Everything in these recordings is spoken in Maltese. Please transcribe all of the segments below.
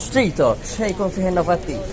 Street Talk, x'ħej jkun fih innovattiv?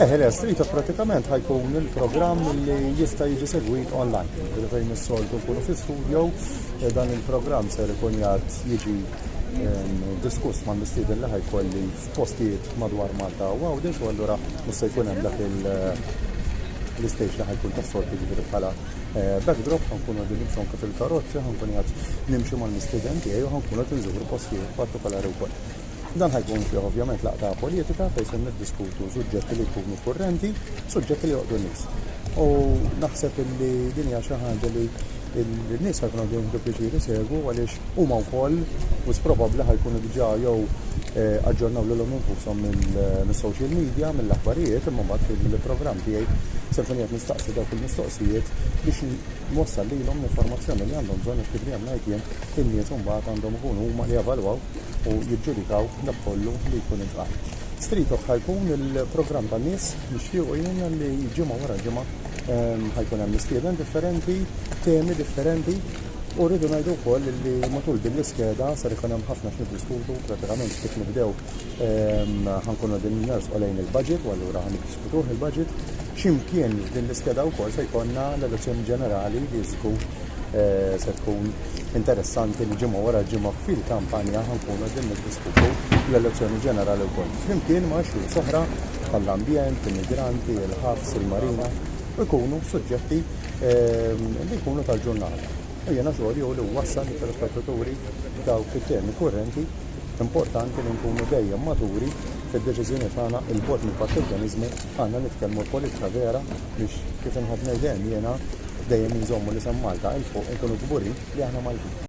Eħe, le, Street Talk pratikament ħajkun il-programm li jista' jiġi segwit online. Ġifieri fejn is-soltu nkunu fi studio, eh, dan il-programm ser ikun jgħad jiġi ehm, diskuss ma' mistieden li ħajkolli f'postijiet madwar Malta u għawdex u allura mhux se jkun hemm dak il- l-istage li ħajkun ta' sorti ġifiri bħala eh, backdrop, ħankun għadin nimxonka fil-karozzi, ħankun għad nimxi mal-mistiden tiegħi u ħankun għad nżuru postijiet partikolari wkoll. Dan ħa jkun fih ovvjament laqgħa politika fejn se niddiskutu suġġetti li jkunu kurrenti, suġġetti li joqgħdu nies. U naħseb illi din hija xi ħaġa li n-nies ħa jkunu għadin jieħdu pjaċir isegwu għaliex huma wkoll u probabbli ħa jkunu diġà jew eh, aġġornaw lilhom infushom mis-social media, mill-aħbarijiet, imma mbagħad fil-programm tiegħi se nkun qed nistaqsi dawk il-mistoqsijiet biex nwassal lilhom l-informazzjoni li għandhom bżonn kif dejjem ngħid jien in-nies imbagħad għandhom ikunu huma li javalwaw u jiġġudikaw dak kollu li jkun intqal. Strito bħal kun il-programm ta' nies nixtiequ jiena li ġimgħa wara ġimgħa ehm, ħajkun hemm mistieden differenti, temi differenti U rridu ngħidu wkoll li matul din l-iskeda sar ikun hemm ħafna x'niddiskutu pratikament kif nibdew ehm, ħankunu din ners lejn il-budget u allura ħan niddiskutuh il-budget. X'imkien din l-iskeda wkoll se jkollna l-elezzjoni ġenerali li żgur eh, se tkun interessanti li ġimgħa wara ġimgħa fil-kampanja ħankunu qegħdin niddiskutu l-elezzjoni ġenerali wkoll. Flimkien ma' xhur soħra bħall-ambjent, immigranti, il-ħabs, il-marina, ikunu suġġetti ehm, li jkunu tal-ġurnata. U jena xogħol jew li wassal li telespettaturi daw fit-temi kurrenti importanti li nkunu dejjem maturi fid-deċiżjoni tagħna il-bot mill-partiġjaniżmu għandna nitkellmu l-politika vera Biex kif inħobb ngħid dejjem jiena dejjem inżommu l-isem Malta 'il fuq u nkunu kburin li aħna Maltin.